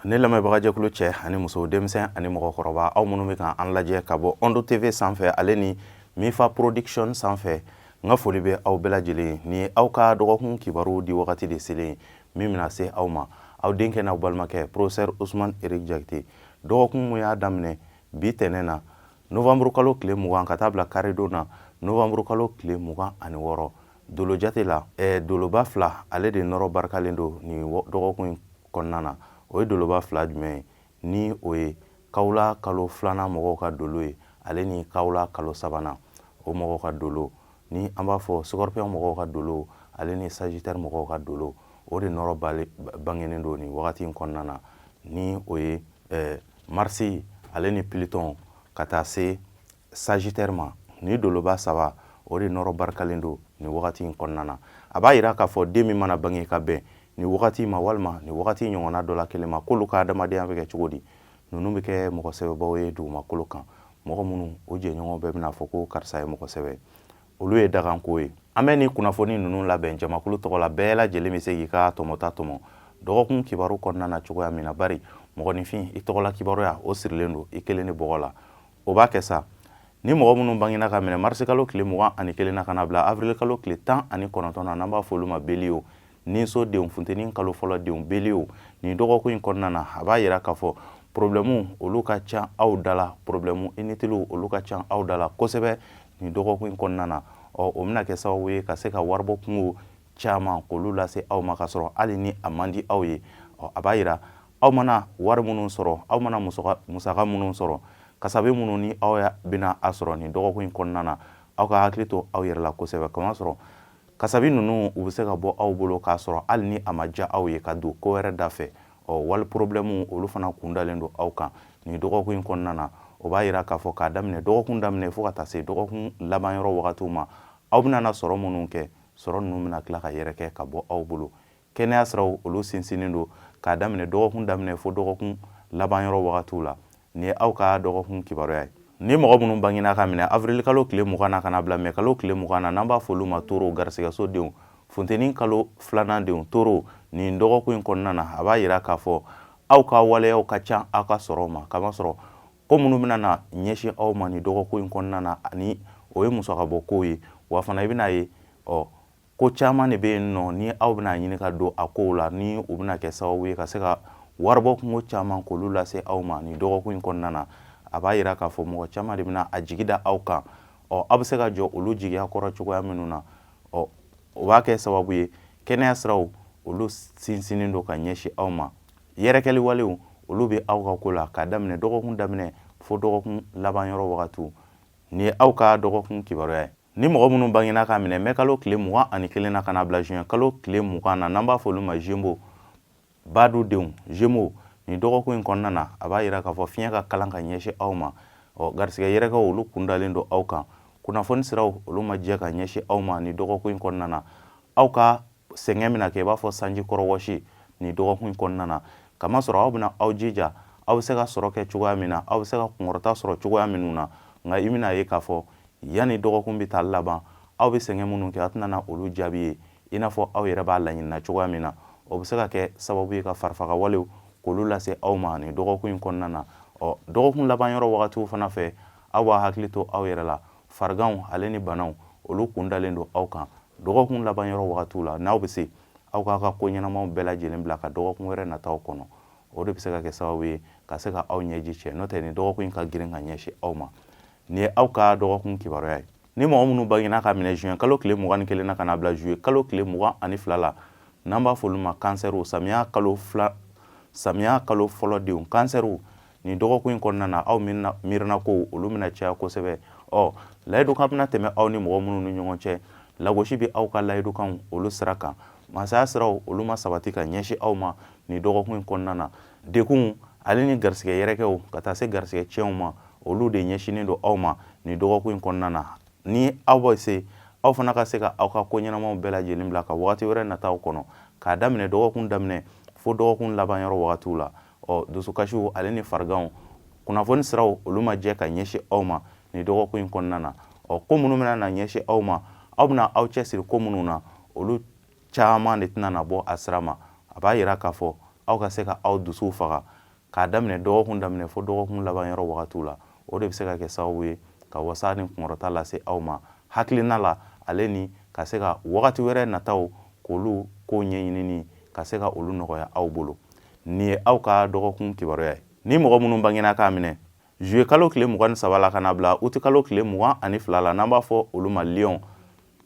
ne lamɛnbagajɛkulu cɛ ani muso denmisɛn ani mɔgɔkɔrɔba aw minnu bɛ kan an lajɛ ka bɔ ondo tv sanfɛ ale ni mifa production sanfɛ n ka foli bɛ aw bɛɛ lajɛlen ye ni aw ka dɔgɔkun kibaru di wagati de selen min bɛna se aw ma aw denkɛ n'aw balimakɛ professeur usman eric jakite dɔgɔkun mun y'a daminɛ bi tɛnɛn na novembre kalo tile mugan ka taa bila karidon na novembre kalo tile mugan ani wɔɔrɔ dolo jate la eh, doloba fila ale de nɔrɔ barikalen don nin dɔgɔkun in kɔnɔna na o ye doloba fila jumɛn ye ni o ye kawula kalo filanan mɔgɔw ka dolo ye ale ni kawula kalo sabanan o mɔgɔw ka dolo ni an b'a fɔ scorpion mɔgɔw ka dolo ale ni sagittaire mɔgɔw ka dolo o de nɔrɔ bangenen don nin wagati in kɔnɔna na ni o ye eh, marisi ale ni pluton ka taa se sagittaire ma ni doloba saba o de nɔrɔ barikalen don nin wagati in kɔnɔna na a b'a yira k'a fɔ den min mana bange ka bɛn nin wagati ma walima nin wagati ɲɔgɔnna dɔ la kelen ma k'olu ka adamadenya bɛ kɛ cogo di ninnu bɛ kɛ mɔgɔ sɛbɛbaw ye dugumakolo kan mɔgɔ minnu o jɛɲɔgɔn bɛɛ bɛna fɔ ko karisa ye mɔgɔ sɛbɛ olu ye dakanko ye an bɛ nin kunnafoni ninnu labɛn jamakulu tɔgɔ la bɛɛ lajɛlen bɛ se k'i ka tɔmɔta tɔmɔ dɔgɔkun kibaru kɔnɔna na cogoya min na bari mɔgɔninfin i tɔgɔla kibaruya o sirilen don i kelen ni bɔgɔ la o b'a kɛ sa ni mɔgɔ minnu bangena ka minɛ marisikalo tile mugan ani kelen na ka na bila avirilikalo tile tan ani kɔnɔntɔn na n'an b'a fɔ olu ma bélier ninso denw funteni kalo fɔlɔ denw bélier nin dɔgɔkun in kɔnɔna na a b'a yira k'a fɔ porobilɛmu olu ka ca aw da la porobilɛmu initiliw olu ka ca aw da la kosɛbɛ nin dɔgɔkun in kɔnɔna na ɔ o bɛna kɛ sababu ye ka se ka waribɔ kunko caman k'olu lase aw ma ka sɔrɔ hali ni a man di aw ye ɔ a b'a yira aw mana wari minnu sɔrɔ aw mana musaka minnu sɔrɔ kasabi minnu ni aw bɛna a sɔrɔ nin dɔgɔkun in kɔnɔna na aw ka hakili to aw yɛrɛ la kosɛbɛ kamasɔrɔ kasabi ninnu u bɛ se ka bɔ aw bolo k'a sɔrɔ hali ni a ma diya aw ye ka don ko wɛrɛ da fɛ ɔ wari porobilɛmu olu fana kun dalen don aw kan nin dɔgɔkun in kɔnɔna na o b'a yira k'a fɔ k'a daminɛ dɔgɔkun daminɛ fo ka taa se dɔgɔkun laban yɔrɔ wagatiw ma aw bɛna na sɔrɔ minnu kɛ sɔrɔ ninnu bɛna tila ka yɛrɛkɛ ka bɔ aw bolo kɛnɛya siraw olu sinsinnen don k'a daminɛ dɔgɔkun daminɛ fo dɔgɔkun laban yɔrɔ wagatiw la nin ye aw ka dɔgɔkun kibaruya ye ni mɔgɔ minnu bangena ka minɛ avril kalo tile mugan na ka na bila mɛ kalo tile mugan na n'an b'a fɔ olu ma toro garisigɛso denw funteni kalo filanan denw toro nin dɔgɔkun in kɔnɔna na a b'a yira k'a fɔ aw ka waleyaw ka ca aw ka sɔrɔ ma kamasɔrɔ ko minnu bɛna na ɲɛsin aw ma nin dɔgɔkun in kɔnɔna na ani o ye musakabɔ kow ye wa fana i bɛna ye ɔ ko caman de bɛ yen nɔ ni aw bɛna ɲini ka don a kow la ni u bɛna kɛ sababu ye ka se ka waribɔ kunko caman k'olu lase aw ma nin dɔgɔkun in kɔnɔna na a b'a yira k'a fɔ mɔgɔ caman de bɛna a jigi da aw kan ɔ aw bɛ se ka jɔ olu jigiya kɔrɔ cogoya minnu na ɔ o b'a kɛ sababu ye kɛnɛya siraw olu sinsinnen don ka ɲɛsin aw ma yɛrɛkɛli walew olu bɛ aw ka ko la k'a daminɛ dɔgɔkun daminɛ fo dɔgɔkun laban yɔrɔ wagatiw nin ye aw ka dɔgɔkun kibaruya ye Ni mɔgɔ minnu bangena k'a minɛ mɛ kalo tile mugan ani kelen na ka na bila juin kalo tile mugan na n'an b'a fɔ olu ma jemo badu denw jemo nin dɔgɔkun in kɔnɔna na a b'a yira k'a fɔ fiɲɛ ka kalan ka ɲɛsin aw ma ɔ garisigɛ yɛrɛkɛw olu kun dalen don aw kan kunnafoni siraw olu ma jɛ ka ɲɛsin aw ma nin dɔgɔkun in kɔnɔna na aw ka sɛgɛn bɛna kɛ i b'a fɔ sanji kɔrɔ wɔsi nin dɔgɔkun in kɔnɔna na kamasɔrɔ aw bɛna aw jija aw bɛ se ka sɔrɔ kɛ cogoya min na aw bɛ se ka kunkɔrɔta sɔrɔ cogoya minnu na nka i bɛna ye k'a fɔ yanni dɔgɔkun bɛ taa laban aw bɛ sɛgɛn minnu kɛ aw tɛna olu jaabi ye i n'a fɔ aw yɛrɛ b'a laɲinina cogoya min na o bɛ se ka kɛ sababu ye ka farifaga walew k'olu lase aw ma nin dɔgɔkun in kɔnɔna na ɔ dɔgɔkun laban yɔrɔ wagatiw fana fɛ aw b'a hakili to aw yɛrɛ la fariganw ale ni banaw olu kun dalen don aw kan dɔgɔkun laban yɔrɔ wagatiw la n'aw bɛ se aw k'a ka ko ɲɛnamaw bɛɛ lajɛlen bila ka dɔgɔkun wɛrɛ nataw kɔnɔ o de bɛ se ka kɛ sababu ye ka se ka aw ɲɛji cɛ n'o tɛ nin dɔgɔkun in ka girin ka ɲɛsin aw ma nin ye aw ka dɔgɔkun kibaruya ye ni mɔgɔ minnu bangena k'a minɛ juin kalo tile mugan ni kelen na ka na bila juillet kalo tile mugan ani fila la n'an b'a fɔ olu ma kansɛriw samiya kalo fila samiya kalo fɔlɔ denw kansɛriw nin dɔgɔkun in kɔnɔna na aw miirina ko olu bɛna caya kosɛbɛ ɔ layidukan bɛna tɛmɛ aw ni mɔgɔ minnu ni ɲɔgɔn cɛ lagosi bɛ aw ka layidukanw olu sira kan masaya siraw olu ma sabati ka ɲɛsin aw ma nin dɔgɔkun in kɔnɔna na degunw ale ni garisigɛ yɛrɛkɛw ka taa se garisigɛ tiɲɛw ma olu de ɲɛsinnen don aw ma nin dɔgɔkun in kɔnɔna na ni aw bɛ se aw fana ka se ka aw ka ko ɲɛnamaw bɛɛ lajɛlen bila ka wagati wɛrɛ nataw kɔnɔ k'a daminɛ dɔgɔkun daminɛ fo dɔgɔkun laban yɔrɔ wagatiw la ɔ dusukasiw ale ni fariganw kunnafoni siraw olu ma jɛ ka ɲɛsin aw ma nin dɔgɔkun in kɔnɔna na ɔ ko minnu bɛna na ɲɛsin aw ma aw bɛna aw cɛsiri ko minnu na olu caman de tɛna na bɔ a sira ma a b'a yira k'a fɔ aw ka se ka aw dusuw faga k'a daminɛ dɔgɔkun daminɛ fo dɔgɔkun laban yɔrɔ wagatiw la o de bɛ se ka kɛ sababu ye ka wasa ni kunkɔrɔta lase aw ma hakilina la ale ni ka se ka wagati wɛrɛ nataw k'olu kow ɲɛɲinini ka se ka olu nɔgɔya aw bolo nin ye aw ka dɔgɔkun kibaruya ye ni mɔgɔ minnu bangena k'a minɛ zuye kalo tile mugan ni saba la ka na bila uti kalo tile mugan ani fila la n'an b'a fɔ olu ma liyɔn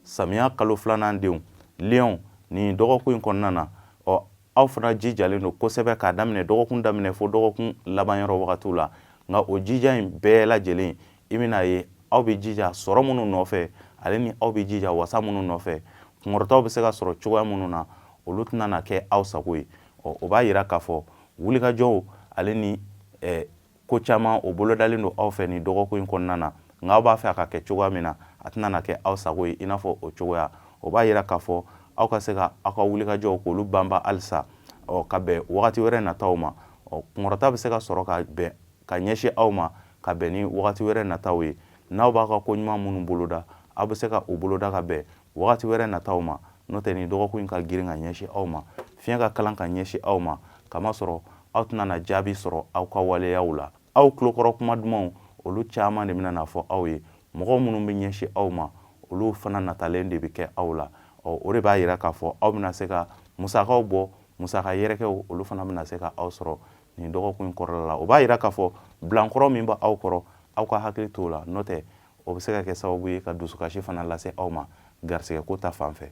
samiya kalo filanan denw liyɔn nin dɔgɔkun in kɔnɔna na ɔ aw fana jijalen don kosɛbɛ k'a daminɛ dɔgɔkun daminɛ fo dɔgɔkun laban yɔrɔ wagatiw la nka o jija in bɛɛ lajɛlen i bɛn'a ye aw bɛ jija sɔrɔ minnu nɔfɛ ale ni aw bɛ jija wasa minnu nɔfɛ kunkɔrɔtaw bɛ se ka sɔrɔ cogoya minnu na olu tɛna na kɛ aw sago ye ɔ o b'a yira k'a fɔ wulikajɔw ale ni eh, ko caman o bolodalen don aw fɛ nin dɔgɔkun in kɔnɔna na nka aw b'a fɛ a ka kɛ cogoya min na a tɛna na kɛ aw sago ye i n'a fɔ o cogoya o b'a yira k'a fɔ aw ka se ka aw ka wulikajɔw k'olu banba halisa ɔ ka bɛn wagati wɛrɛ nataw ma ɔ kunkɔrɔta bɛ se ka sɔrɔ ka bɛn ka ɲɛsin aw ma ka bɛn ni wagati wɛrɛ nataw ye n'aw bɛ ka ko ɲuman minnu boloda aw bɛ se ka o boloda ka bɛn wagati wɛrɛ nataw ma n'o tɛ nin dɔgɔkun in ka girin ka ɲɛsin aw ma fiɲɛ ka kalan ka ɲɛsin aw ma kamasɔrɔ aw tɛna na jaabi sɔrɔ aw ka waleyaw la aw tulokɔrɔ kuma dumanw olu caman de bɛna na fɔ aw ye mɔgɔ minnu bɛ ɲɛsin aw ma olu fana natalen de bɛ kɛ aw la ɔ o de b'a yira k'a fɔ aw bɛna se ka musakaw bɔ musaka yɛrɛkɛw olu fana bɛna se ka aw sɔrɔ nin dɔgɔkun in kɔnɔna na o b'a yira k'a fɔ bilankɔrɔ min bɛ aw kɔrɔ aw ka hakili t'o la n'o tɛ o bɛ se ka kɛ sababu ye ka dusukasi fana lase aw ma garisɛgɛko ta fan fɛ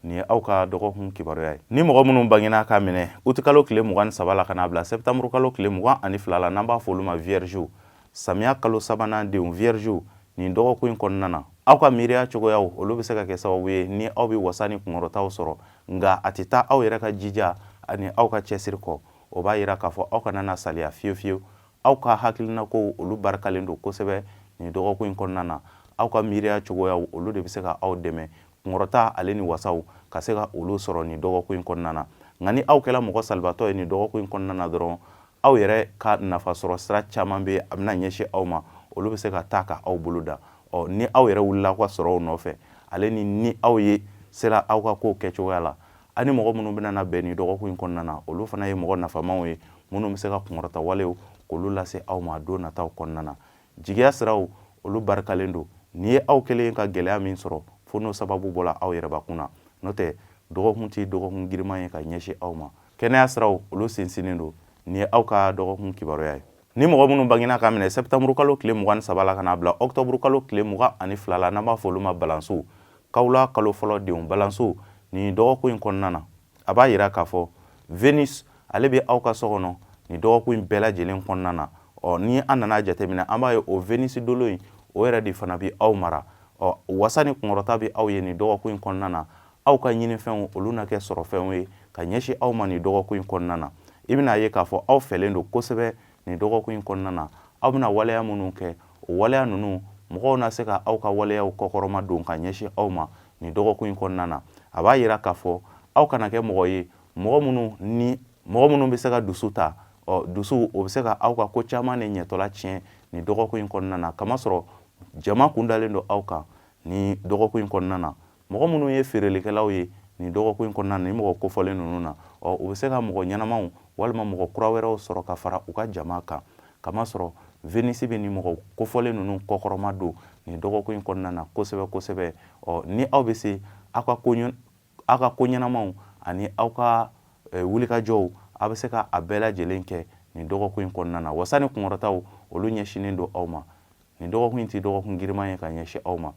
nin ye aw ka dɔgɔkun kibaruya ye ni mɔgɔ minnu bangena k'a minɛ utikalo tile mugan ni saba la ka n'a bila sɛtanburukalo tile mugan ani fila la n'an b'a fɔ olu ma viergew samiya kalo sabanan denw viergew nin dɔgɔkun in kɔnɔna na aw ka miiriya cogoyaw olu bɛ se ka kɛ sababu ye ni aw bɛ wasa ni kunkɔrɔtaw sɔrɔ nka a tɛ taa aw yɛrɛ ka jija ani aw ka cɛsiri kɔ o b'a yira k'a fɔ aw kana na saliya fiyewu fiyewu aw ka hakilinakow olu barikalen don kosɛbɛ nin dɔgɔkun in kɔnɔna na aw ka miiriya cogoyaw olu de bɛ se ka aw dɛmɛ kunkɔrɔta ale ni wasaw ka se ka olu sɔrɔ nin dɔgɔkun in kɔnɔna na nka ni aw kɛra mɔgɔ salibatɔ ye nin dɔgɔkun in kɔnɔna na dɔrɔn aw yɛrɛ ka nafa sɔrɔ sira caman bɛ a bɛna ɲɛsin aw ma olu bɛ se ka taa ka aw bolo da ɔ ni aw yɛrɛ wulila aw ka sɔrɔw nɔfɛ ale ni ni aw ye sera aw ka kow kɛcogoya la ani mɔgɔ minnu bɛna na bɛn nin dɔgɔkun in kɔnɔna na olu fana ye mɔgɔ nafamaw ye minnu bɛ se ka kunkɔrɔta walew k'olu lase aw ma don nataw kɔnɔna na jigiya siraw olu barikalen don n'i ye aw kɛlen ka gɛlɛya min sɔrɔ fo n'o sababu bɔra aw yɛrɛbakun na n'o tɛ dɔgɔkun tɛ dɔgɔkun giriman ye ka ɲɛsin aw ma kɛnɛya siraw olu sinsinnen don nin ye aw ka dɔgɔkun kibaruya ye Ni mɔgɔ minnu bangena k'a minɛ sɛtanburukalo tile mugan ni saba la ka n'a bila ɔkutɔburukalo tile mugan ani fila la n'an b'a fɔ olu ma balancew kawula kalo fɔlɔ denw balancew nin dɔgɔkun in kɔnɔna na a b'a yira k'a fɔ venus ale bɛ aw ka so kɔnɔ nin dɔgɔkun in bɛɛ lajɛlen kɔnɔna na ɔ ni an nan'a jateminɛ an b'a ye o venus dolo in o yɛrɛ de fana bɛ aw mara ɔ wasa ni kunkɔrɔta bɛ aw ye nin dɔgɔkun in kɔnɔna na aw ka ɲinifɛnw olu na kɛ sɔrɔfɛnw ye ka ɲɛsin aw ma nin dɔgɔkun in kɔnɔna na i bɛna ye k'a fɔ aw fɛlen don kosɛbɛ nin dɔgɔkun in kɔnɔna na aw bɛna waleya minnu kɛ o waleya ninnu mɔgɔw na se ka aw ka waleyaw kɔkɔrɔma don ka ɲɛsin aw ma nin dɔgɔkun in kɔnɔna na a b'a yira k'a fɔ aw kana kɛ mɔgɔ ye mɔgɔ minnu ni mɔgɔ minnu bɛ se ka dusu ta ɔ dusu o bɛ se ka aw ka ko caman de ɲɛtɔla tiɲɛ nin dɔgɔkun in kɔnɔna na kamasɔrɔ jama kun dalen don aw kan nin dɔgɔkun in kɔnɔna na mɔgɔ minnu ye feerelikɛlaw ye nin dɔgɔkun in kɔnɔna na nin mɔgɔ kofɔlen ninnu na ɔ u bɛ se ka mɔgɔ ɲɛnamaw walima mɔgɔ kura wɛrɛw sɔrɔ ka fara u ka jama kan kamasɔrɔ venisi bɛ nin mɔgɔ kofɔlen ninnu kɔkɔrɔma don nin dɔgɔkun in kɔnɔna na kosɛbɛ kosɛbɛ ɔ ni aw bɛ se aw ka ko aw ka ko ɲɛnamaw ani aw ka eh, wulikajɔw aw bɛ se ka a bɛɛ lajɛlen kɛ nin dɔgɔkun in kɔnɔna na wasa ni kunkɔrɔtaw olu ɲɛsinnen don aw ma nin dɔgɔkun in tɛ dɔgɔkun giriman ye ka ɲɛsin aw ma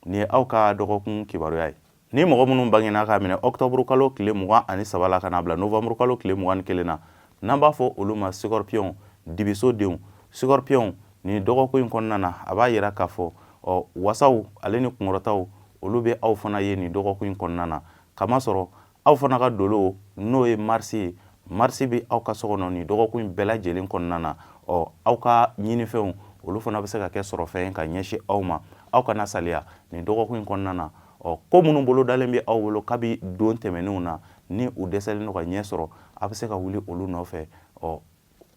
nin ye aw ka dɔgɔkun kibaruya ye ni mɔgɔ minnu bangenna k'a minɛ ɔkutɔburu kalo tile mugan ani saba la ka n'a bila novanburu kalo tile mugan ni kelen na n'an b'a fɔ olu ma sikɔrɔpiyɔnw dibiso denw sikɔrɔpiyɔnw nin dɔgɔkun in kɔnɔna na a b'a yira k'a fɔ ɔ wasaw ale ni kunkɔrɔtaw olu bɛ aw fana ye nin dɔgɔkun in kɔnɔna na kamasɔrɔ aw fana ka dolo n'o ye marisi ye marisi bɛ aw ka so kɔnɔ nin dɔgɔkun in bɛɛ lajɛlen kɔnɔna na ɔ aw ka ɲinifɛnw olu fana bɛ se ka kɛ sɔrɔfɛn ka ɲɛsin aw ma aw kana saliya nin dɔgɔkun in kɔnɔna na ɔ ko minnu bolo dalen bɛ aw bolo kabi don tɛmɛnenw na ni u dɛsɛlen don ka ɲɛ sɔrɔ aw bɛ se ka wuli olu nɔfɛ ɔ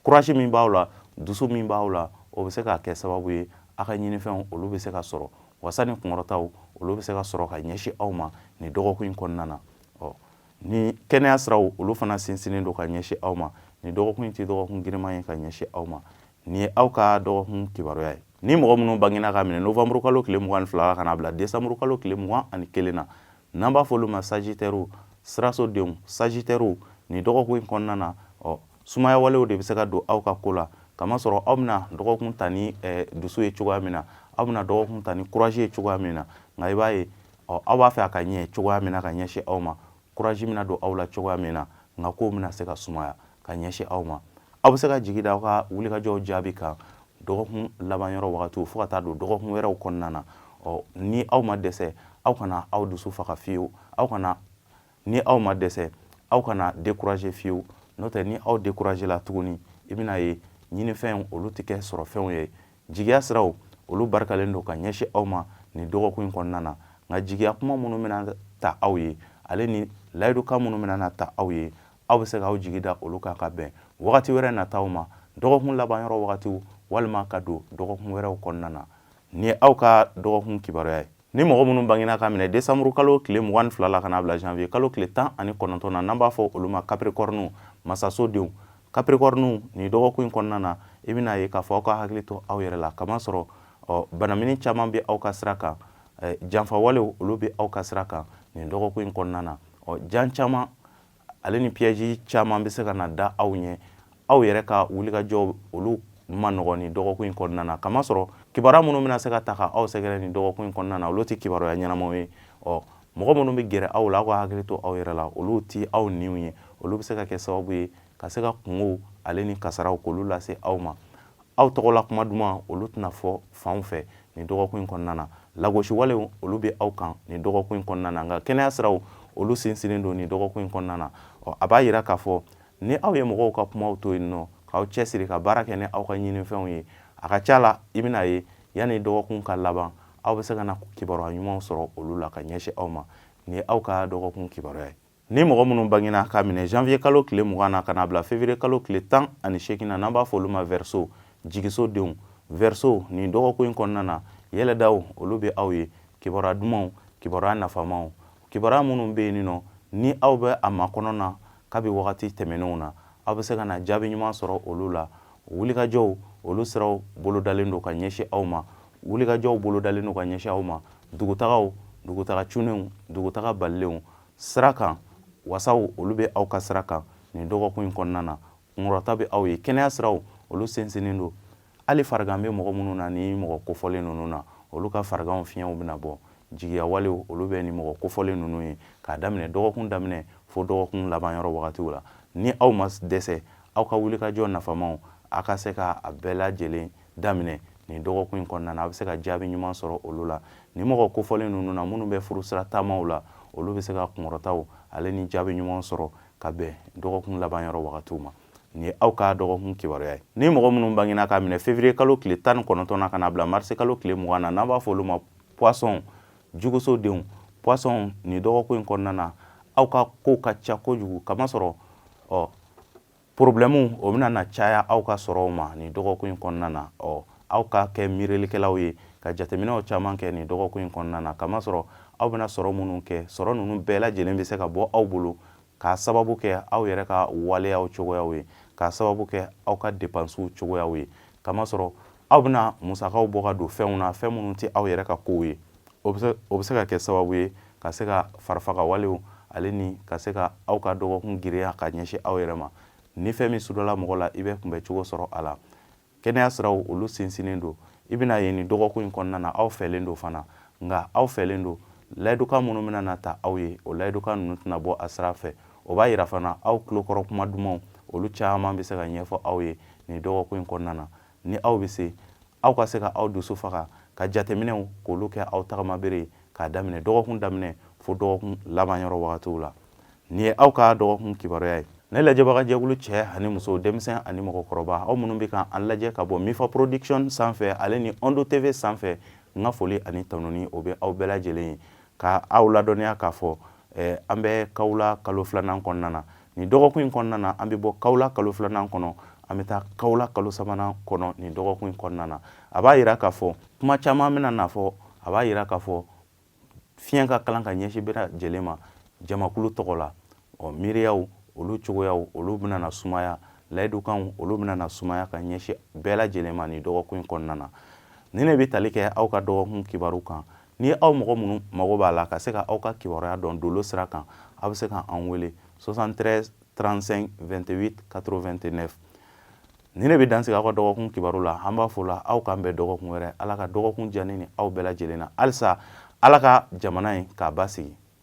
kurazi min b'aw la dusu min b'aw la o bɛ se ka kɛ sababu ye aw ka ɲinifɛnw olu bɛ se ka sɔrɔ wasa ni kunkɔrɔtaw olu bɛ se ka sɔrɔ ka ɲɛsin aw ma nin dɔgɔkun in kɔnɔna na ɔ ni kɛnɛya siraw olu fana sinsinnen don ka ɲɛsin aw ma nin dɔgɔkun in tɛ dɔgɔkun girinman ye ka ɲɛsin aw ma nin ye aw ka dɔgɔkun kibaruya ye ni mɔgɔ minnu bangena k'a minɛ novembre kalo tile mugan ni fila la ka n'a bila décembre kalo tile mugan ani kelen na n'an b'a fɔ olu ma sagitɛriw sirasodenw sagitɛriw nin dɔgɔkun in kɔnɔna na ɔ sumaya walew de bɛ se ka don aw ka ko la kamasɔrɔ aw bɛna dɔgɔkun ta ni eh, dusu ye cogoya min na aw bɛna dɔgɔkun ta ni kurazi ye cogoya min na nka i b'a ye aw b'a fɛ a ka ɲɛ cogoya min na ka ɲɛsin aw ma kurazi bɛna don aw la cogoya min na nka kow bɛna se ka sumaya ka ɲɛsin aw ma aw bɛ se ka jigi da aw ka wulikajɔw jaabi kan dɔgɔkun laban yɔrɔ wagatiw fo ka taa don dɔgɔkun wɛrɛw kɔnɔna na ɔ ni aw ma dɛsɛ aw kana aw dusu faga fiyewu aw kana ni aw ma dɛsɛ aw kana décourager fiyewu n'o tɛ ni aw décourager la tuguni i bɛna ye ɲinifɛnw olu tɛ kɛ sɔrɔfɛnw ye jigiya siraw olu barikalen don ka ɲɛsin aw ma nin dɔgɔkun in kɔnɔna na nka jigiya kuma minnu bɛna ta aw ye ale ni layidukan minnu bɛna ta aw ye aw bɛ se k'aw jigi da olu kan ka bɛn wagati wɛrɛ nataw ma dɔgɔkun laban yɔrɔ wagatiw walima ka don dɔgɔkun wɛrɛw kɔnɔna na nin ye aw ka dɔgɔkun kibaruya ye ni mɔgɔ minnu bangina ka minɛ desanburu kalo tile mugan ni fila la ka na bila janvier kalo tile tan ani kɔnɔntɔn na n'an b'a fɔ olu ma kapirikɔriniw masasodenw kapirikɔriniw nin dɔgɔkun in kɔnɔna na i bɛna ye k'a fɔ aw ka hakili to aw yɛrɛ la kamasɔrɔ ɔ banamini caman bɛ aw ka sira kan janfawalew olu bɛ aw ka sira kan nin dɔgɔkun in kɔnɔna na ɔ jan caman ale ni piyɛzi caman bɛ se ka na da aw ɲɛ aw yɛrɛ ka wulikajɔ olu man nɔgɔn nin dɔgɔkun in kɔnɔna na kamasɔrɔ kibaruya minnu bɛna se ka taa ka aw sɛgɛrɛ nin dɔgɔkun in kɔnɔna na olu tɛ kibaruya ɲɛnamaw ye ɔ mɔgɔ minnu bɛ gɛrɛ aw la aw ka hakili to aw yɛrɛ la olu tɛ aw niw ye olu bɛ se ka kɛ sababu ye ka se ka kunkow ale ni kasaraw k'olu lase aw ma aw tɔgɔla kuma duman olu tɛna fɔ fanw fɛ nin dɔgɔkun in kɔnɔna na lagosiwalew olu bɛ aw kan nin dɔgɔkun in kɔnɔna na nka kɛnɛya siraw olu sinsinnen don nin dɔgɔkun in kɔnɔna na ɔ a b'a yira k'a fɔ ni aw ye mɔgɔw ka kumaw to yen nɔ k'aw cɛsiri ka baara kɛ ni aw ka ɲinifɛnw ye a ka ca la i bɛna ye yanni dɔgɔkun ka laban aw bɛ se ka na kibaruya ɲumanw sɔrɔ olu la ka ɲɛsin aw ma nin ye aw ka dɔgɔkun kibaruya ye ni mɔgɔ minnu bangena ka minɛ janvier kalo tile mugan na ka na bila février kalo tile tan ani seegin na n'an b'a fɔ olu ma verseau jigiso denw verseau nin dɔgɔkun in kɔnɔna na yɛlɛdaw olu bɛ aw ye kibaruya dumanw kibaruya nafamaw kibaruya minnu bɛ yen nɔ ni aw bɛ a makɔnɔ na kabi wagati tɛmɛnenw na aw bɛ se ka na jaabi ɲuman sɔrɔ olu la wulikajɔw olu siraw bolodalen don ka ɲɛsin aw ma wulikajɔw bolodalen don ka ɲɛsin aw ma dugutagaw dugutaga cunnenw dugutaga balilenw sira kan wasaw olu bɛ aw ka sira kan nin dɔgɔkun in kɔnɔna na kunkɔrɔta bɛ aw ye kɛnɛya siraw olu sinsinnen don hali farigan bɛ mɔgɔ minnu na nin mɔgɔ kofɔlen ninnu na olu ka fariganw fiɲɛw bɛna bɔ jigiya walew olu bɛ nin mɔgɔ kofɔlen ninnu ye k'a daminɛ dɔgɔkun daminɛ fo dɔgɔkun laban yɔrɔ wagatiw la ni aw ma dɛsɛ aw ka wulikajɔ nafamaw a ka se ka a bɛɛ lajɛlen daminɛ nin dɔgɔkun in kɔnɔna na a bɛ se ka jaabi ɲuman sɔrɔ olu la nin mɔgɔ kofɔlen ninnu na minnu bɛ furusira taamaw la olu bɛ se ka kunkɔrɔtaw ale ni jaabi ɲuman sɔrɔ ka bɛn dɔgɔkun laban yɔrɔ wagatiw ma nin ye aw ka dɔgɔkun kibaruya ye ni mɔgɔ minnu bangena ka minɛ février kalo tile tan ni kɔnɔntɔn na ka na bila marisi kalo tile mugan na n'an b'a fɔ olu ma poisson juguso denw poisson nin dɔgɔkun in kɔnɔna na aw ka kow ka ca kojugu kamasɔrɔ ɔ porobilɛmu o bɛna na caya aw ka sɔrɔw ma nin dɔgɔkun in kɔnɔna na ɔ aw ka kɛ miirilikɛlaw ye ka jateminɛw caman kɛ nin dɔgɔkun in kɔnɔna na kamasɔrɔ aw bɛna sɔrɔ minnu kɛ sɔrɔ ninnu bɛɛ lajɛlen bɛ se ka bɔ aw bolo k'a sababu kɛ aw yɛrɛ ka waleyaw cogoyaw ye k'a sababu kɛ aw ka depansiw cogoyaw ye kamasɔrɔ aw bɛna musakaw bɔ ka don fɛnw na fɛn minnu tɛ aw yɛrɛ ka kow ye o bɛ se ka kɛ sababu ye ka se ka farifaga walew ale ni ka se ka aw ka dɔgɔkun giriya ka ɲɛsin aw yɛrɛ ma ni fɛn min sudɔla mɔgɔ la i bɛ kunbɛn cogo sɔrɔ a la kɛnɛya siraw olu sinsinnen don i bɛna ye nin dɔgɔkun in kɔnɔna na aw fɛlen don fana nka aw fɛlen don layidukan minnu bɛna na ta aw ye o layidukan ninnu tɛna bɔ a sira fɛ o b'a yira fana aw tulokɔrɔ kuma dumanw olu caman bɛ se ka ɲɛfɔ aw ye nin dɔgɔkun in kɔnɔna na ni aw bɛ se aw ka se ka aw dusu faga ka jateminɛw k'olu kɛ aw tagamabere ye k'a daminɛ dɔgɔkun daminɛ fo dɔgɔkun laban yɔrɔ wagatiw la nin ye aw ka dɔgɔkun kibaruya ye ne lajɛbagajɛkulu cɛ ani muso denmisɛn ani mɔgɔkɔrɔba aw minnu bɛ ka an lajɛ ka bɔ mifa production sanfɛ ale ni ondo tv sanfɛ n ka foli ani tanuni o bɛ aw bɛɛ lajɛlen ye Ka aw ladɔnniya k'a fɔ an bɛ kawula kalo filanan kɔnɔna na nin dɔgɔkun in kɔnɔna na an bɛ bɔ kawula kalo filanan kɔnɔ an bɛ taa kawula kalo sabanan kɔnɔ nin dɔgɔkun in kɔnɔna na a b'a yira k'a fɔ kuma caman bɛna na fɔ a b'a yira k'a fɔ fiɲɛ ka kalan ka ɲɛsin bɛɛ lajɛlen ma jamakulu tɔgɔ la ɔ miiriyaw olu cogoyaw olu bɛna na sumaya layidukanw olu bɛna na sumaya ka ɲɛsin bɛɛ lajɛlen ma nin dɔgɔkun in kɔnɔna na ni ne bɛ tali kɛ aw ka dɔgɔkun kibaru kan Ni aw mɔgɔ minnu mago b'a la ka se ka aw ka kibaruya dɔn dolo sira kan aw bɛ se ka an wele 73 35 28 89 ni ne bɛ dansigi aw ka dɔgɔkun kibaru la an b'a fɔ la aw k'an bɛn dɔgɔkun wɛrɛ ala ka dɔgɔkun diya an ni aw bɛɛ lajɛlen na halisa ala ka jamana in k'a basigi